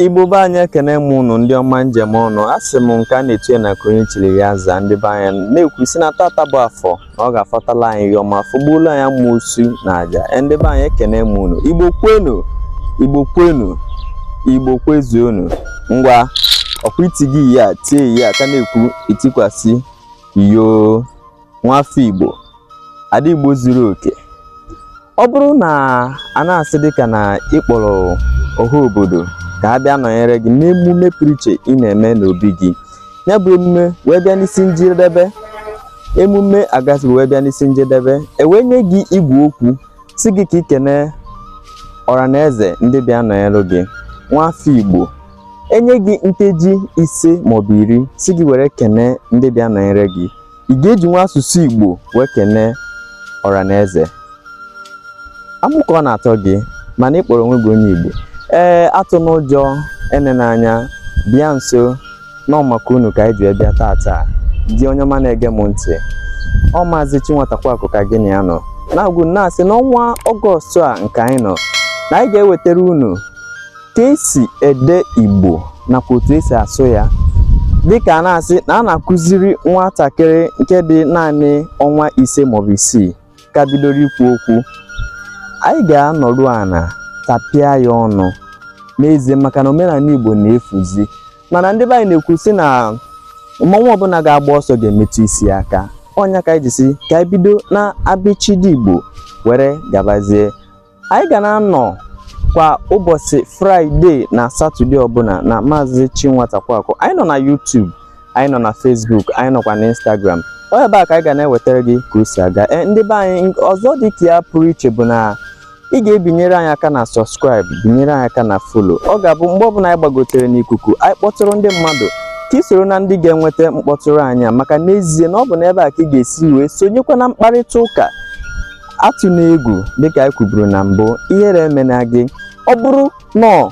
Igbo be anyị ekene m ụnụ ndị ọma m ji eme ọnụ a sị m nke a na-etu onye na nke onye chiri ya zaa ndị be anyị na-ekwu sị na tata bụ afọ na ọ ga-afọtala anyị ihe ọma fọgbuolo anyị amosu na aja e, ndị be anyị ekene m ụnụ igbo kwenu igbo kwenu igbo kwezuonu ngwa ọkwa iti gị ya tie ya aka na-ekwu itikwasị yoo nwafọ Igbo ada Igbo zuru oke ọ bụrụ na a na-asị dịka na ị kpọrọ ọha obodo ka a bịa nọnyere gị n'emume pụrụ iche ị na-eme n'obi gị ya bụ emume wee bịa n'isi njedebe emume agasịrị wee bịa n'isi njedebe e wee nye gị igwe okwu sị gị ka i kene ọra na eze ndị bịa nọnyere gị nwafọ Igbo e nye gị nkeji ise maọbụ iri sị gị were kene ndị bịa nọnyere gị ị ga-ejinwu asụsụ Igbo wee kenee ọra na eze amụ ka ọ na-atọ gị mana ị kpọrọ onwe gị onye Igbo ee atụna ụjọ enena anya bịa nso na ọ maka unu ka anyị ji bịa tata dị onye ọma na-ege m ntị ọ maazị Chinwatakwuakụ ka gị na ya nọ na-agwa unu na-asị n'ọnwa ọgọstụ a nke anyị nọ na anyị ga-ewetara unu ka e si ede Igbo nakwa otu e si asụ ya dịka a na-asị na a na-akụziri nwatakịrị nke dị naanị ọnwa ise maọbụ isii ka bidoro ikwu okwu anyị ga-anọdụ ana tapịa ya ọnụ n'ezie maka na omenala Igbo na-efuzi mana ndị be anyị na-ekwu sị na mmọnwụ ọbụna ga-agba ọsọ ga-emetụ isi aka ọ nya ka anyị ji sị ka anyị bido na abịchịdị Igbo were gabazie anyị ga na-anọ kwa ụbọsị fraịde na satọde ọbụna na maazị Chinwatakwuakụ anyị nọ na YouTube anyị nọ na Facebook anyị nọkwa na Instagram ọ ebe a ka anyị ga na-ewetara gị ka o si aga e, ndị be anyị ọzọ dị ka ya pụrụ iche bụ na ị ga-ebinyere anyị aka na sọskraịb binyere anyị aka na folo ọ ga-abụ mgbe ọbụna anyị gbagotere n'ikuku anyị kpọtụrụ ndị mmadụ ka ị soro na ndị ga-enweta mkpọtụrụ anyị maka n'ezie na ọ bụ n'ebe a ka ị ga-esi wee sonyekwa na mkparịta ụka atụna egwu dịka anyị kwuburu na mbụ ihere emena gị ọ bụrụ na ọ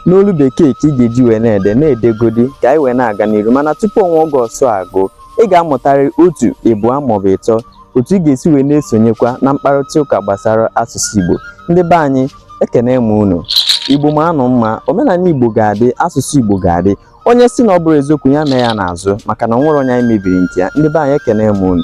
n'olu bekee ka ị ga-eji wee na-ede na-edegodi ka anyị wee na-aga n'iru mana tupu ọnwa ọgọstụ agwụ ị ga-amụtarị otu ịbụọ maọbụ ịtọ otu ị ga-esi wee na-esonyekwa na mkparịta ụka gbasara asụsụ Igbo ndị be anyị ekene m unu Igbo mma nụ mma omenala Igbo ga-adị asụsụ Igbo ga-adị onye sị na ọ bụrọ eziokwu ya mee ya n'azụ maka na o nwerọ onye anyị mebiri nke ya ndị be anyị ekene m unu